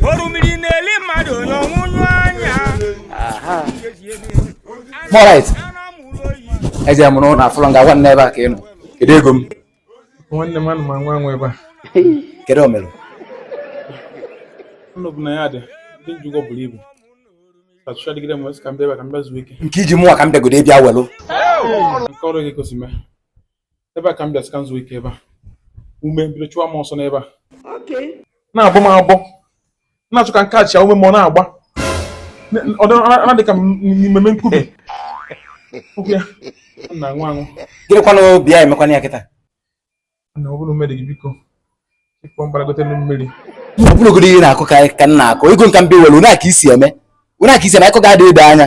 orumiri na-eli mmadụ n'ọnwụ nyụ anya Morit, eje m n'ụlọ afụrọ m gị nwanne ebe a ka ị nọ. Kedu ego m? nwanne m ana m anwa anwa ebe a Kedu o mere? ụlọ bụ na ya dị ndị m ji ụgwọ buru ibu achụcha dịgide m wee sị ka m bịa ebe a ka m bịa zuo ike Nke i ji mụwa ka m bịagodo bịa welụ. nke ọrụ gị gosi mee ebe a ka m bịa sị ka m zuo ike ebe a ume bido chụwa m ọsọ n'ebe a na-agbọ m agbọ na-achọ ka m kachia ume m ọ na-agba ọ dị ka mmemme nkubi na nwa anwụ gịnịkwanụ obi ya emekwana ya kịta na ọ bụrụ mmeri gị biko ị kpọ m gbalagote mmiri ọ bụrụgodo ihe na-akụ ka ka m na-akụ ego nke m bịa were onye aka isi eme onye aka isi eme akụ ga-adị ede anya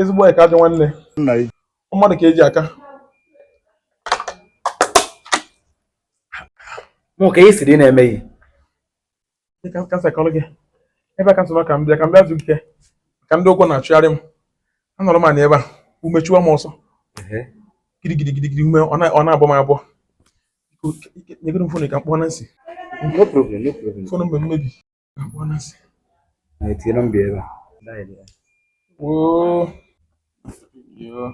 ezigbo enyi ka ajọ nwanne mma mmadụ ka e ji aka mụ ka ihe siri na-emeghị kasekọrọ gị ebe a ka m sị ka m bịa ka m bịa zuo ike ka ndị ụgwọ na-achụgharị m anọrọ m anya ebe a ume chụwa m ọsọ gidigidigidi ume ọ na-abụ m abụọ nyegoro m fon ka m kpọọ Nancy fon mgbe mmebi na-etinye nọmba ebe a woo yoo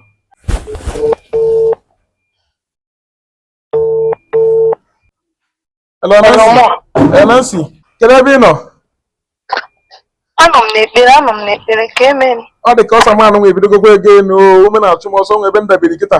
Hello, Nancy. Kedu ebe ị nọ? Anọ m n'ekpere, anọ m n'ekpere, ka emere. Ọ dị ka ọsọ m anụnwa ebidogokwa ego enu, ume na-achụ m ọsọ nwee ebe m dabiri kịta.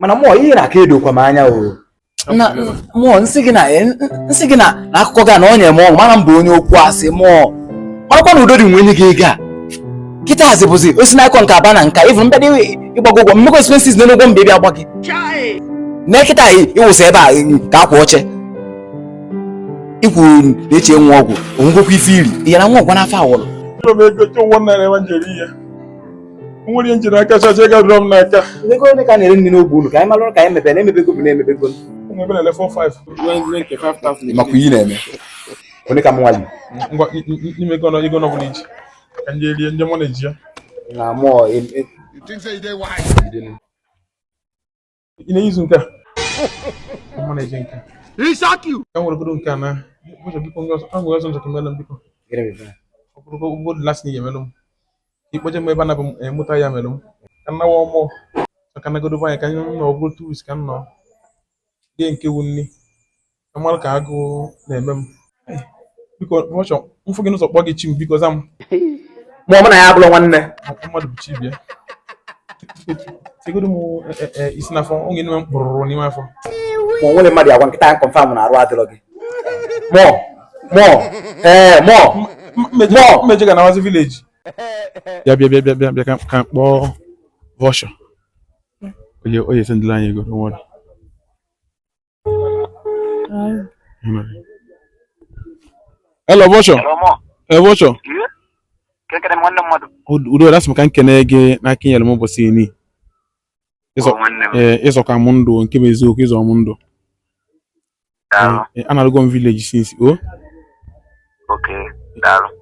mana mụọ ihe na-aka edokwa m anya o na mụọ nsị gị na nsị gị na na akụkọ gị a na ọ nyere m ọṅụ mana m bụ onye okwu asị mụọ marakwa na udo dị nwe nye gị ego a kịta asị bụzi o si n'akọ nke a ba na nke a ịvụ bịa gbago ụgwọ mmekọ expenses n'elu ụgwọ m bịa gba gị na kịta anyị ịwụsị ebe a ka akwa oche ikwu na eche nwa ọgwụ o nwegokwa ife iri ihe na nwa ọgwụ n'afọ awọrọ Ụlọ m egote ụgwọ m na-ere nwa njeri ihe. nwere ihe m jiri aka chacha ego dụrọ m n'aka ego ole ka a na-ere nri n'ogbe unu ka anyị malụrụ ka anyị mebere emebego bụ na-emebego ebe na-ele 4-5 makwa ihe ị na-eme onye ka m nwali ngwa nye m ego ego ọ bụla i ji ka m je rie nri mụ na-eji ya na mụọ ị na-eyizu nke a mụ na-eji nke a ka nwere bụrụ nke a na ụzọ biko ndị ọzọ ahụ ọzọ njọkọ melụ m biko ọ bụrụ ka ụgbọ lasị na ga-emelụ m ị kpọje m ebe a na bụ m emụta ya melụ m ka m nawa ọmụ maka nagodo anyị ka anyị nọ ọ bụrụ 2 weeks ka m nọ rie nke wu nri mara ka agụụ na-eme m eh, biko ọchọ m fụ gị n'ụzọ kpọọ gị chi m biko za m ma ọ bụ na ya abụrụ nwanne mmadụ bụ chi bịa tegodo m eh, eh, isi n'afọ oge n'ime m kpụrụrụ n'ime afọ ma o nwere mmadụ agwa nkịta ahụ confirm na arụ adịrọ gị mọ mọ ee mọ mmeje ga nawazi village ya bịa bịa bịa bịa ka m kpọọ Bosho oye oye sendịla anyị ego nwere Hello, Bosho. Hello, Bosho. Kekere nwanne mmadụ. Udo dị. Asị m ka m kene gị n'aka i nyeere m ụbọchị ini. Ị zọka m ndụ nke bụ eziokwu ị zọ m ndụ. Anarugo m village since o. Oh.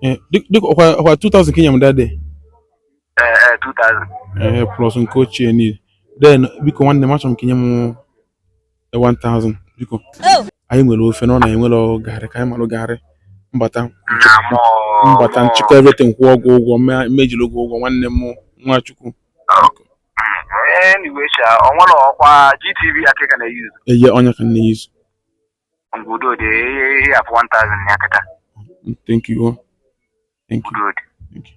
Eh, dịka ọ kwa 2000 ka i nye m that day ee plus nke ochie niile then biko nwanne m achọrọ m ka i nye m 1000 biko anyị nwere ofe na ọ na anyị enwerọ garị ka anyị malụ garị m bata m bata m chịkọọ everything kwụọ gị ụgwọ mejiri ụgwọ ụgwọ nwanne m nwa Chukwu eye onye ka nne yuzu thank you thank you